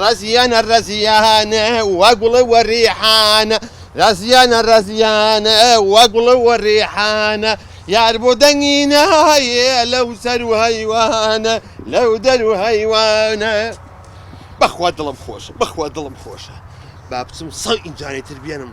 ڕەزییانە ڕەزییانە وا گوڵ و ڕیحانە ڕەزییانە ڕەزییانە وا گوڵ و ڕیحانە یار بۆ دەنگی نایێ لەو سەر و هەیوانە لەو دەر و هەیوانە بەخوا دڵم خۆشە بەخوا دڵم خۆشە با بچم سەو ئینجانەی تر بێنم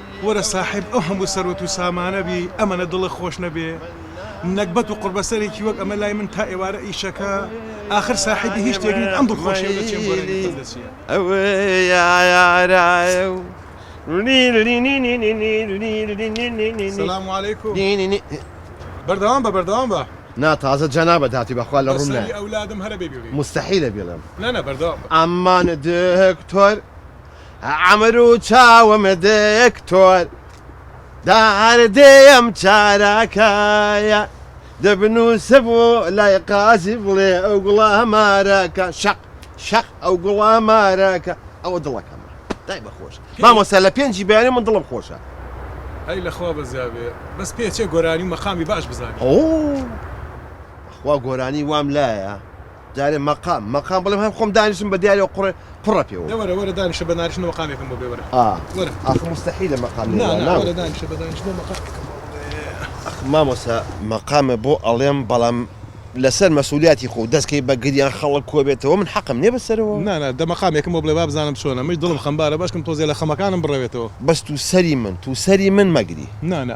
وەرە ساحێب ئەو هەموو سەروەت و سامانە بی ئەمەنە دڵە خۆش نەبێ نەگبەت و قوڕبەسەرێکی وەک ئەمە لای من تا ئێوارە ئیشەکە ئاخر ساحێبی هیچ شتێک نیت ئەم دڵخۆشیەو لە چێم وەرەگرتم لە چیە. سلام و علیکم بەردەوام بە بەردەوام بە. نا تازە جەنابت هاتی بەخوا لە ڕووم نایە مستەحیلە بیڵێم. ئەمانە دکتۆر عەمرو چاوم دکتۆر داردێیەم چارەکەیە دبنوسم و لای قازی بڵێ ئەو گوڵە مارەکە شەق شەق ئەو گوڵە مارەکە ئەوە دڵەکەمە دای بە خۆش مامۆستا لە پێنجی بەیانی من دڵم خۆشە. ئەی لەخوا بەزیابێ بەس پێ چێ گۆرانی و مەقامی باش بزانێ. ئۆۆ بەخوا گۆرانی وام لایە دارێ مەقام مەقام بڵێم هەر خۆم دانیشم بە دیارێ و قوڕێ قوڕە پێوە. نە وەرە وەرە دانیشە بە نانیشتنەوە مەقامێکم بۆ بێ وەرە ئا وەرە. ئاخ موستەحیلە مەقام نا نا وەرە دانیشە بە دانیشتنەوە مەقامێکم بۆ بێ. ئاخ مامۆستا مەقامە بۆ ئەڵێم بەڵام لە سەر مەسئولیاتی خۆو دەست کەی بە گریان خەڵک کۆ بێتەوە من حەقم نیە بە سەرەوە؟ نا نا دە مەقامێکم بۆ بڵێ با بزانم چۆنە منیش دڵم خەمبارە باشکم تۆزێ لە خەمەکانم بڕەوێتەوە. بەس تو سەری من تو سەری من مەگری. نا نا.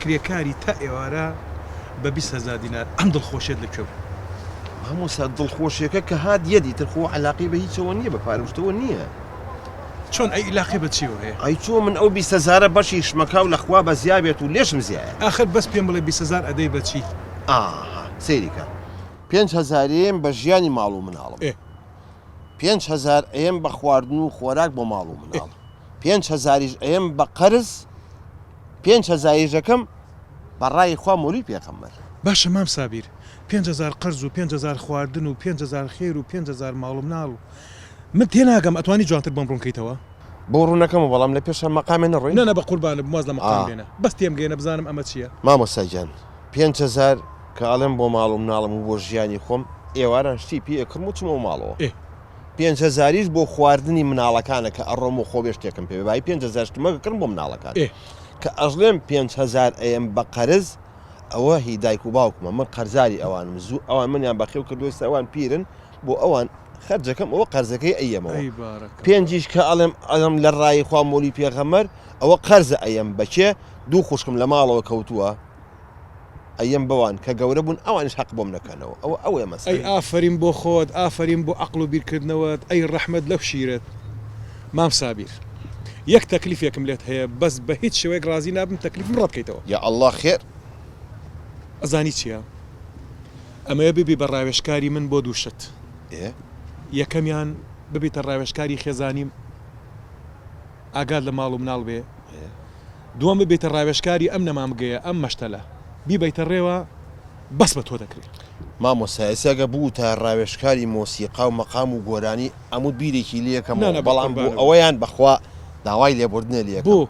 کرێکاری تا ئێوارە بە بیست هەزار دینار ئەم دڵخۆشیەت لە کوێ بوو؟ مامۆستا دڵخۆشیەکە کە هات یەت ئیتر خۆ عەلاقەی بە هیچەوە نیە بە پارەو شتەوە نیە. چۆن ئەی ئیلاقەی بە چیەوە هەیە؟ ئەی چۆن من ئەو بیست هەزارە بەشی شمەکاو لە خوا بەزیا بێت و لێشم زیایە. ئاخر بەس پێم بڵێ بیست هەزار ئەدەی بە چی؟ ئاها سەیری کە. پێنج هەزار ئەیەم بە ژیانی ماڵ و مناڵم. ئێ. پێنج هەزار ئەیەم بە خواردن و خۆراک بۆ ماڵ و مناڵ. ئێ. پێنج هەزاریش ئەیەم بە قەرز پێنج هەزایش ئەکەم بە ڕای خوا مۆلی پێغەمبەر. باشە مام سابیر پێنج هەزار قەرز و پێنج هەزار خواردن و پێنج هەزار خێر و پێنج هەزار ماڵ و مناڵ و من تێناگەم ئەتوانی جوانتر بۆم ڕوون کەیتەوە. بۆ ڕوون ئەکەمەوە بەڵام لە پێشا مەقامێ نەڕۆی. نەنە بەقوربانت واز لە مقام بێنە بەس تێم گەیەنە بزانم ئەمە چیە. مامۆستا گیان پێنج هەزار کە ئەڵێم بۆ ماڵ و مناڵم و بۆ ژیانی خۆم ئێواران شتی پێ ئەکڕم و چمەوە ماڵەوە. ئێ پێنج هەزاریش بۆ خواردنی مناڵەکانە کە ئەڕۆم و خۆێ شتێکم پێ بای پێنج هەزار شتمە کڕم بۆ مناڵەکان کە ئەژڵێم پێنج هەزار ئەیەم بە قەرز ئەوە هی دایک و باوکمە من قەرزاری ئەوانم زوو ئەوان منیان بەخێو کردووە ئێستا ئەوان پیرن بۆ ئەوان خەرجەکەم ئەوە قەرزەکەی ئەیەمەوە ئەی بارەکە پێنجیش کە ئەڵێم ئەڵم لە ڕای خوا مۆلی پێغەمەر ئەوە قەرزە ئەیەم بەچێ دوو خوشکم لە ماڵەوە کەوتووە ئەیەم بەوان کە گەورە بوون ئەوانیش هەق بۆم نەکەنەوە ئەوە ئەوەیە مەسەلە. ئەی ئافەرین بۆ خۆت ئافەرین بۆ ئەقڵ و بیرکردنەوەت ئەی ڕەحمەت لەو شیرەت مام سابیر یەک تەکلیفێکم لێت هەیە بەس بە هیچ شێوەیەک ڕازی نابم تەکلیفم ڕەت کەیتەوە. یا اللە خێر. ئەزانی چیە ئەمەیە ببی بە ڕاوێژکاری من بۆ دوو شت ئێ. یەکەمیان ببیتە ڕاوێژکاری خێزانیم. ئاگات لە ماڵ و مناڵ بێ دووەم ببیتە ڕاوێژکاری ئەم نەمامگەیە ئەم مەشتەلە بیبەیتە ڕێوە بەس بە تۆ دەکرێ. مامۆستا ئێستا گەر بووتە ڕاوێژکاری مۆسیقا و مەقام و گۆرانی ئەموت بیرێکی لێکەمەوە بەڵام بۆ ئەوەیان بەخوا داوای لێبوردنە لێکەم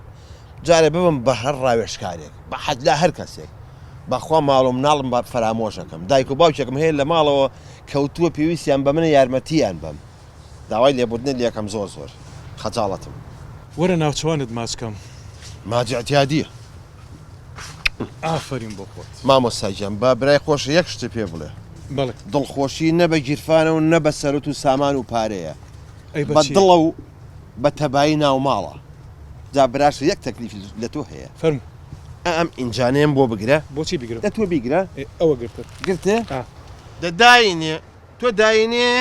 جارێ ببم بە هەر ڕاوێژکارێک بە حەجلا هەر کەسێک بەخوا ماڵ و مناڵم بە فەرامۆش ئەکەم دایک و باوکێکم هەیە لە ماڵەوە کەوتووە پێویستیان بە منە یارمەتیان بەم. داوای لێبوردنت لێکەم زۆر زۆر خەجاڵەتم. وەرە ناوچەوانت ماچ کەم. ماج اعتیادیە. ئافەرین بۆ خۆت. مامۆستا گیان با برای خۆش یەک شت پێ بڵێ. بەڵێ. دڵخۆشی نە بە گیرفانە و نە بە سەروت و سامان و پارەیە. ئەی بە چیە؟ بە دڵە و بە تەبایی ناو ماڵە. جا براشە یەک تەکلیفی لە تۆ هەیە. فەرموو. ئا ئەم ئینجانەیەم بۆ بگرە. بۆچی بیگرم؟ دە تۆ بیگرە. ئێ ئەوە گرتت. گرتت؟ ئا. دە داینێ. تۆ داینێ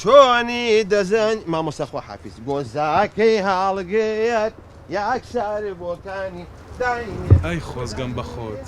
چۆنی دەزانی مامۆستا خوا حافیز بۆ زاکەی هاڵگێت یاک شار بۆکانی داینێ. ئای خۆزگەم بەخۆت.